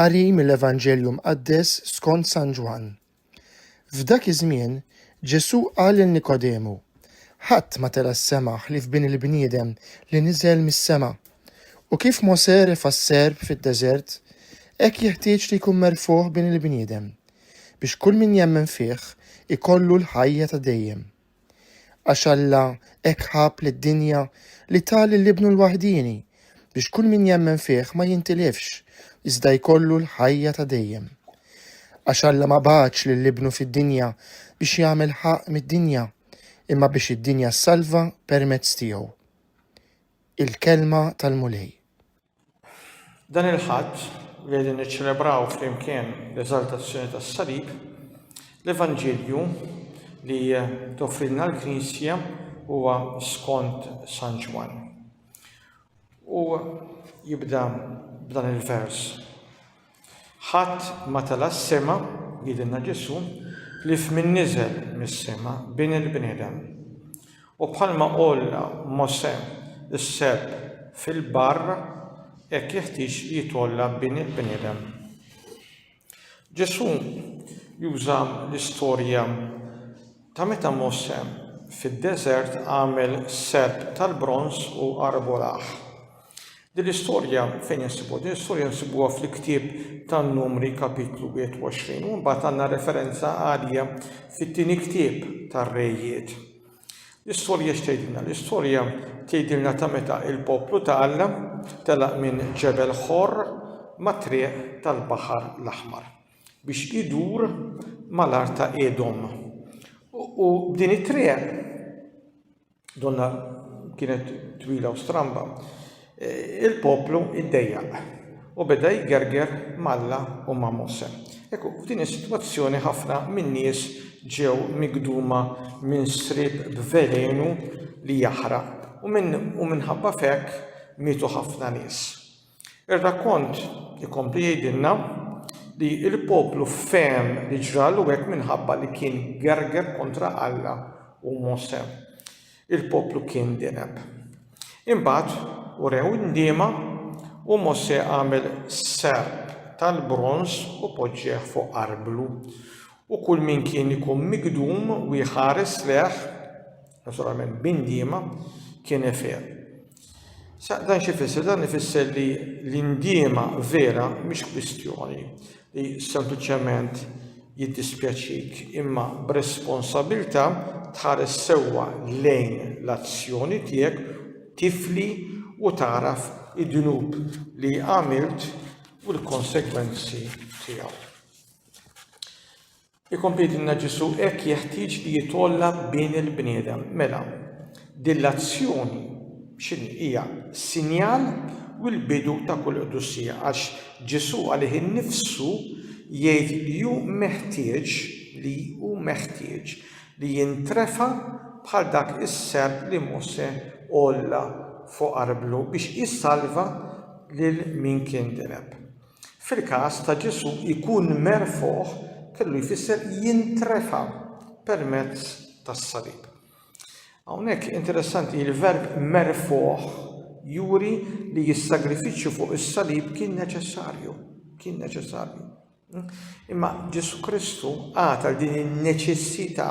Qari mill-Evanġelju Mqaddes skont San Ġwann. F'dak iż-żmien, Ġesù qal lil Nikodemu, Ħadd ma tela' s-sema ħlief Bin il-bniedem li niżel mis-sema. U kif Mosè refa' s-serp fid-deżert, hekk jeħtieġ li jkun merfugħ Bin il-bniedem. biex kull min jemmen fih ikollu l-ħajja ta' dejjem. Għax Alla hekk ħabb lid-dinja li ta lil Ibnu l-waħdieni biex kull min jemmen fih ma jintilifx, iżda jkollu l-ħajja ta' dejjem. Għax Alla ma bagħatx lil Ibnu fid-dinja biex jagħmel ħaqq mid-dinja, imma biex id-dinja ssalva permezz tiegħu. Il-Kelma tal-Mulej. Dan il-Ħadd li qegħdin niċċelebraw flimkien l-eżaltazzjoni tas-Salib, l-Evanġelju li toffrilna l-Knisja huwa skont San Ġwann. U jibda b'dan il-vers. Ħadd ma tala' s-sema, jgħidilna Ġesù, ħlief min niżel mis-sema, Bin il-bniedem. U bħalma għolla Mosè s-selb fil-barr, hekk jeħtieġ li jitgħolla Bin il-bniedem. Ġesù juża l-istorja ta' meta Mosè fid-deżert għamel selb tal-bronż u arbolah. Din l-istorja fejn insibuha? Din l-istorja nsibuha fl-ktieb tan-Numri Kapitlu 21 u mbagħad għandna referenza għalija fit-tieni ktieb tar-Rejiet. L-istorja x'tgħidilna? L-istorja tgħidilna ta' meta il-poplu ta' Alla telaq minn Ġebel Ħor mat-triq tal-Baħar l-Aħmar biex idur mal-art ta' Edom. U b'din it-triq Donna kienet twila u stramba. E, il-poplu iddejjaq u beda jgerger malla u ma' Mose. Ekku, f'din is-sitwazzjoni ħafna minn nies ġew migduma minn srib b'velenu li jaħraq u minħabba fekk mietu ħafna nies. Ir-rakkont ikompli jgħidilna li l-poplu fehem li ġralu hekk minħabba li kien gerger kontra Alla u Mosè. Il-poplu kien dineb. Imbagħad urew indiema u Mosè għamel serp tal-bronż u poġġieh fuq arblu. U kull min kien ikun migdum u jħares lejh naturalment b'indiema, kien Efer. Sa dan xi fisser? Dan ifisser li l-indiema vera mhix kwistjoni li sempliċement jiddispjaċik imma b'responsabilità tħares sewwa lejn l-azzjoni tiegħek tifli u tagħraf id-dnub li għamilt u l-konsegwenzi tiegħu. Ikompli jgħidilna Ġesù hekk jeħtieġ li jitgħolla Bin il-bniedem. Mela, din l-azzjoni x'inhi? Hija sinjal u l-bidu ta' kull qdusija għax Ġesù għalih innifsu jgħid li hu meħtieġ li hu meħtieġ li jintrefa' bħal dak is-serp li Mosè għolla fuq arblu biex isalva lil min kien direb. Fil-każ ta' Ġesù ikun merfugħ kellu jfisser jintrefa' permezz tas-salib. Hawnhekk interessanti li l-verb merfugħ juri li s-sagrifiċċju fuq is-salib kien neċessarju, kien neċessarju. Imma Ġesù Kristu għata din in-neċessità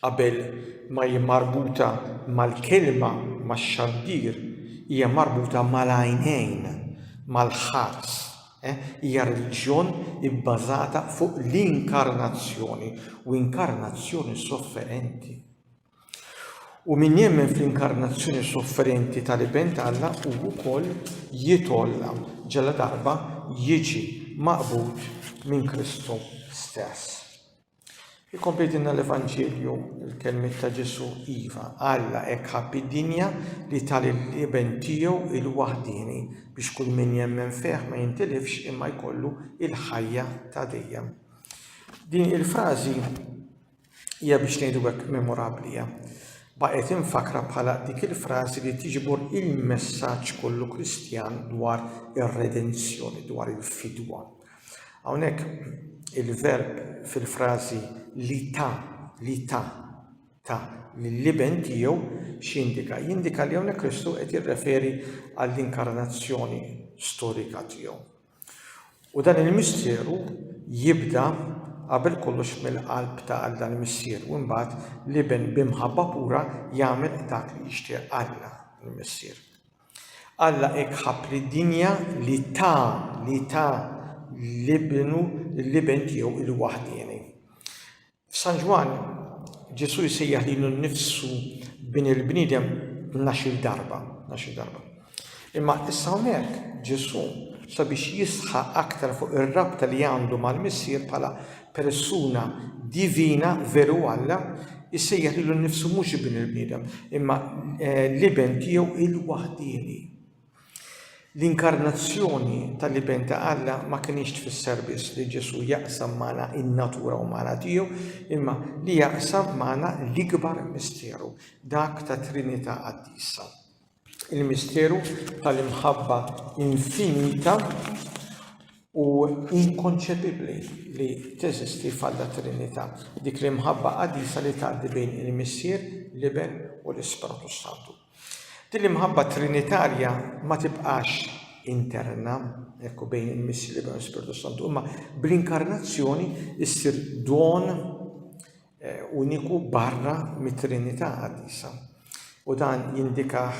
Qabel ma hi marbuta mal-kelma max-xandir, hija marbuta mal-għajnejn, mal-ħars. Hija reliġjon ibbażata fuq l-inkarnazzjoni, u inkarnazzjoni sofferenti. U min jemmen fl-inkarnazzjoni sofferenti tal-Iben t'Alla hu wkoll jitolla ġala darba jiġi maqbud minn Kristu stess. Ikompli jtinna l-Evanġelju l-kelmiet ta' Ġesu iva, Alla hekk ħabb id-dinja li tal l-Iben tiegħu il-waħdieni biex kull min jemmen fih ma jintilifx imma jkollu il-ħajja ta' dejjem. Din il-frażi hija biex ngħidu hekk memorabbli baqgħet infakra bħala dik il-frażi li tiġbor il-messaġġ kollu Kristjan dwar ir-redenzjoni, dwar il-fidwa. Hawnhekk il-verb fil-frażi li ta li ta ta lill-iben tiegħu x'jindika? Jindika li hawnhekk Kristu qed jirreferi għall-inkarnazzjoni storika tiegħu. U dan il-misteru jibda qabel kollox mill-qalb ta' Alla l-Missier u mbagħad l-iben b'imħabba pura jagħmel dak li jixtieq Alla l-Missier. Alla hekk ħabb lid-dinja li ta, li ta l-Ibnu, l-Iben tiegħu il-waħdieni. F'San Ġwann, Ġesù jsejjaħ lilu nnifsu bin il-bniedem nax-il darba, nax-il darba. Imma issa hawnhekk Ġesù sabiex jisħaq aktar fuq ir-rabta li għandu mal-Missier bħala persuna divina veru Alla jsejjaħ lilu nnifsu mhux Ibn il-bniedem, imma l-Iben tiegħu il-waħdieni. L-inkarnazzjoni tal-Iben ta' Alla ma kinitx tfisser biss li Ġesù jaqsam magħna in-natura umana tiegħu, imma li jaqsam magħna l-ikbar misteru, dak ta' Trinità Qaddisa. il-misteru tal-imħabba infinita u inkonċepibbli li teżisti f'Alla Trinità, dik l-imħabba qaddisa li tgħaddi bejn il-Missier, l-Iben u l-Ispirtu s-Santu. Din l-imħabba trinitarja ma tibqax interna, ekku bejn il-Missier, l-Iben u l-Ispirtu s-Santu, imma bl-inkarnazzjoni issir don eh, uniku barra mit-Trinità qaddisa. U dan jindikah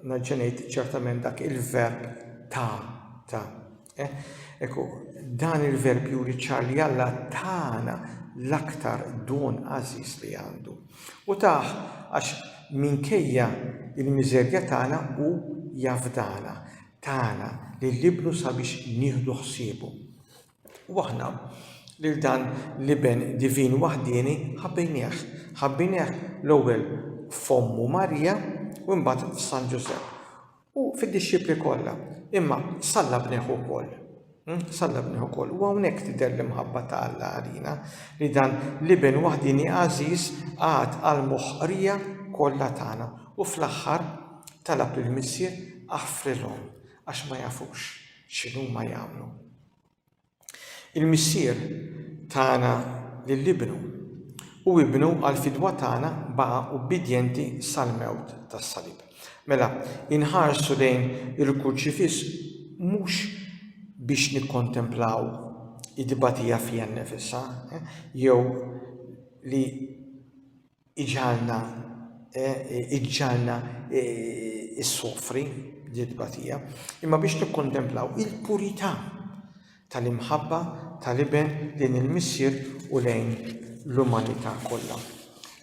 naġġenejt ċertament dak il-verb ta ta. Eh, Ekku, dan il-verb juri ċar li Alla tana l-aktar don għażiż li għandu. U taħ għax minkejja il-miżerja tagħna u jafdana, tagħna li l-libnu sabiex nieħdu ħsiebu. U aħna, lil dan l-Iben divin waħdieni, ħabbejnieh. Ħabbejnieh l-ewwel f'ommu Marija u imbagħad f'San Ġużepp. U fid-dixxipli kollha. Imma sallabnieh ukoll. Hm? Sallabnieh ukoll. U hawnhekk tidher l-imħabba ta' Alla għalina li dan l-Iben waħdieni għażiż qagħad għal moħqrija kollha tagħna. U fl-aħħar talab lill-Missier aħfrilhom għax ma jafux x'inhuma jagħmlu. Il-Missier tana lil Ibnu, u Ibnu għall-fidwa tagħna baqa' ubbidjenti sal-mewt tas-salib. Mela, inħarsu lejn il-Kurċifiss mhux biex nikkontemplaw it-tbatija fiha nnifisha, jew li iġalna iġġalna issofri din tbatija, imma biex nikkontemplaw il-purità tal-imħabba tal-iben lejn il-missier u lejn l-umanità kollha.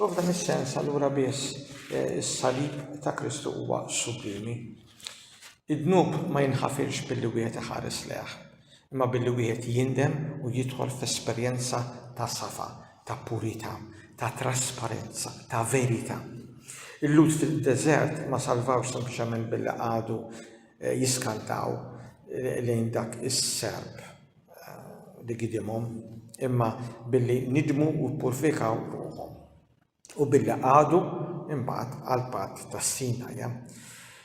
U f'dan is-sens allura biss eh, is-salib ta' Kristu huwa sublimi. Id-dnub ma jinħafirx billi wieħed iħares leħ, imma billi wieħed jindem u jidħol f'esperjenza ta' safa ta' purità, ta' trasparenza, ta' verità. Il-Lhud fid-deżert ma salvawx sempliċement billi qagħdu eh, jiskantaw eh, lejn dak is-serp eh, li gidimhom, imma billi nidmu u purfikaw ruħhom u billi qagħdu imbagħad għal patt tas-Sinaja.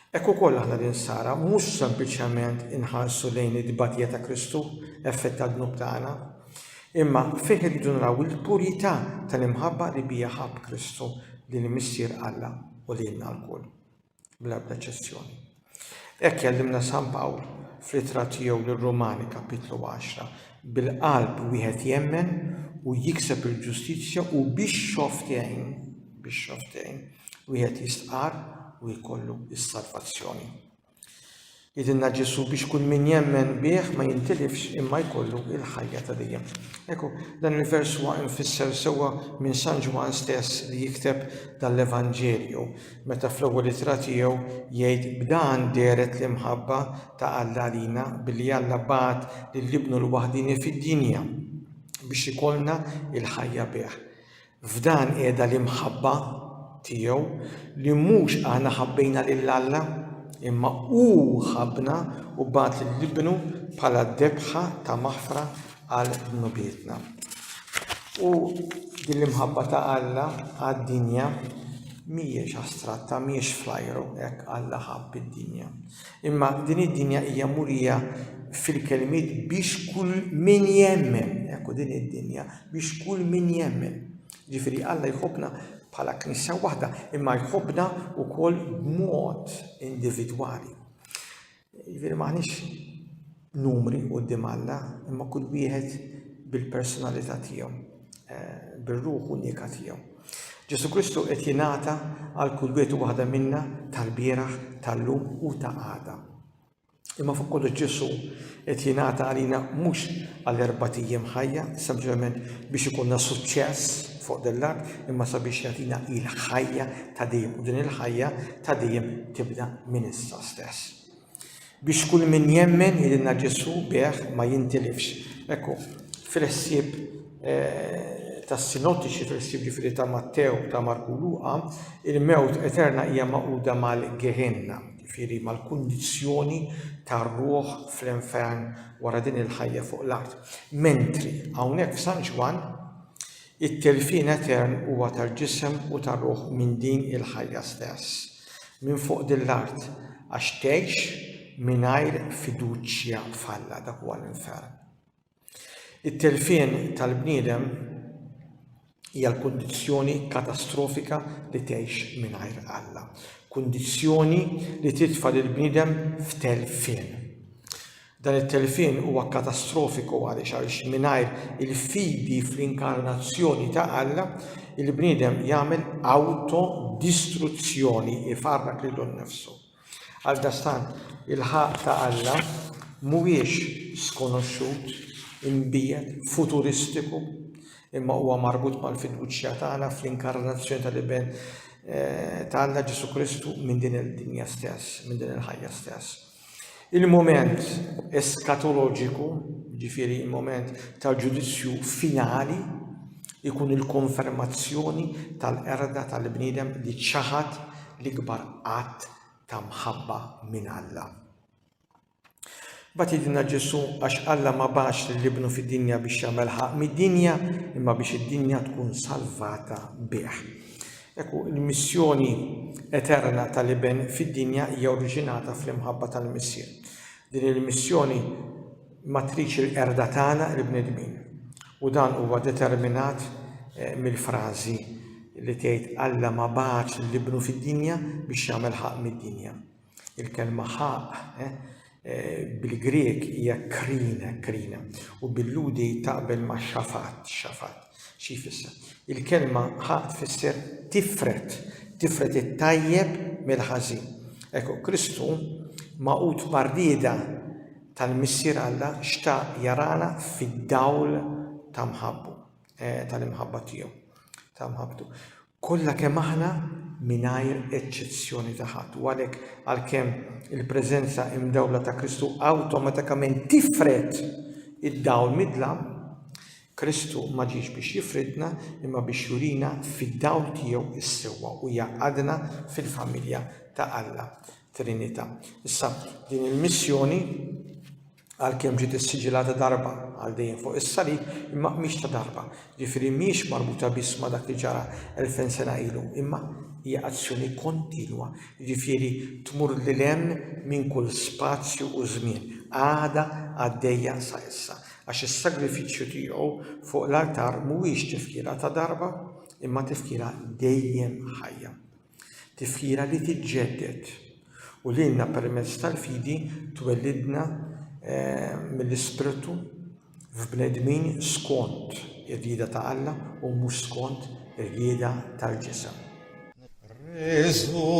Hekk ukoll aħna l-Insara mhux sempliċement inħarsu lejn it-tbatija ta' Kristu, effett tad-dnub tagħna, imma fih irridu naraw il-purita' tal-imħabba li biha ħabb Kristu lil Missier Alla u lilna lkoll, bla ebda eċċezzjoni. Hekk jgħallimna San Pawl fl-ittra tiegħu lir-Rumani, kapitlu għaxra, Bil-qalb wieħed jemmen u jikseb il-ġustizzja u bix-xofftejn, bix-xofftejn, wieħed jistqarr u jkollu s-salvazzjoni. Jidilna Ġesu biex kull min jemmen bih ma jintilifx imma jkollu il-ħajja ta' dejjem. Ekku, dan il-vers huwa infisser sewwa minn San Ġwan stess li jikteb dan l-Evanġelju. meta fl-ewwel ittra tiegħu jgħid b'dan dehret l-imħabba ta' Alla għalina billi Alla bagħat lil Ibnu l-waħdieni fid-dinja biex ikollna l-ħajja bih. F'dan qiegħda l-imħabba tiegħu li mhux aħna ħabbejna lil Alla, imma hu ħabbna u bagħat lil Ibnu bħala debħa ta' maħfra għal dnubietna. U din l-imħabba ta' Alla għad-dinja mhijiex astratta, mhijiex flajru hekk Alla ħabb id-dinja. Imma din id-dinja hija murija fil-kelmiet biex kull min jemmen, ekku din id-dinja, biex kull min jemmen. Ġifieri Alla jħobbna bħala knisja waħda, imma jħobbna wkoll b'mod individwali. Jiġifieri m'aħniex numri quddiem Alla, imma kull wieħed bil-personalità tiegħu, eh, bir-ruħ unika tiegħu. Ġesu Kristu qed jingħata għal kull wieħed u waħda minna tal-bieraħ, tal-lum u ta' għada. Imma fuq kollu ġesu qed jingħata għalina mhux għal erba' ijiem ħajja, sempliċement biex ikunna suċċess fuq dell-art, imma sabiex jagħtina il-ħajja ta' dejjem u din il-ħajja ta' dejjem tibda minn issa stess. Ħlas. Biex kull min jemmen ilna Ġesù bih ma jintilifx. Ekku, fil-ħsieb tas-sinottiċi, fil-ħsieb ġifieri ta' Mattew, ta' Marku u Luqa, il-mewt eterna hija magħquda mal-Gehenna, ġifieri mal-kundizzjoni tar-ruħ fl-infern wara din il-ħajja fuq l-art. Mentri hawnhekk f'San Ġwann It-telfien etern huwa tal-ġisem u tar-ruħ minn din il-ħajja stess, minn fuq din l-art, għax tgħix mingħajr fiduċja f'Alla, dak huwa l-infern. It-telfien tal-bniedem hija l-kundizzjoni katastrofika li tgħix mingħajr Alla, kundizzjoni li titfa' lill-bniedem f'telfien. Dan it-telfien huwa katastrofiku għaliex għaliex mingħajr il-fidi fl-inkarnazzjoni ta' Alla, il-bniedem jagħmel awto-distruzzjoni, ifarrak lilu nnifsu. Għaldaqstant, il-ħaqq ta' Alla mhuwiex skonoxxut, imbiegħed, futuristiku, imma huwa marbut mal-fiduċja tagħna fl-inkarnazzjoni tal-Iben ta' Alla, Ġesù Kristu, minn din id-dinja stess, minn din il-ħajja stess. Il-mument eskatoloġiku, jiġifieri l-mument tal-ġudizzju finali, ikun il-konfermazzjoni tal-qerda tal-bniedem li ċaħad l-ikbar att ta' mħabba minn Alla. Bat jidinna Ġesu għax Alla ma bax l-libnu fid-dinja biex jagħmel ħaq mid-dinja imma biex id-dinja tkun salvata bih. Hekk hu, il-missjoni eterna tal-Iben fid-dinja hija oriġinata fl-imħabba tal-Missier. Din il-missjoni matriċi l-qerda tagħna, il-bnedmin. U dan huwa determinat eh, mill-frażi li tgħid Alla ma bagħatx l-Ibnu fid-dinja biex jagħmel ħaq mid-dinja. Il-kelma ħaq bil-Grieg hija krine, krine, u bil-Lhudi taqbel ma' xafat, xafat. Xi jfisser? Il-kelma ħaq tfisser tifred, tifred it-tajjeb mill-ħażin. Ekku, Kristu, magħqud mar-rieda tal-Missier Alla, xtaq jarana fid-dawl ta' mħabbu, tal-imħabba tiegħu, ta' mħabbtu. Kollha kemm aħna mingħajr eċċezzjoni ta' ħadd. U għalhekk, għalkemm il-preżenza imdawla ta' Kristu awtomatikament tifred id-dawl midlam, Kristu ma ġiex biex jifridna imma biex jurina fid-dawl tiegħu s-sewwa u jgħaqqadna fil-familja ta' Alla, Trinità. Issa, din il-missjoni għalkemm ġiet issiġilata darba għal dejjem fuq is-salib, imma mhix ta' darba, ġifieri mhijiex marbuta biss ma' dak li ġara elfejn sena ilu, imma hija azzjoni kontinwa, ġifieri tmur lil hemm minn kull spazju u żmien, għadha għaddejja sa issa, għax is-sagrifiċċju tiegħu fuq l-artar mhuwiex tifkira ta' darba, imma tifkira dejjem ħajja. Tifkira li tiġġedded u lilna permezz tal-fidi twellidna mill-Ispirtu f'bnedmin skont ir-rieda ta' Alla u mhux skont ir-rieda tal-ġisem. Resurrexxi.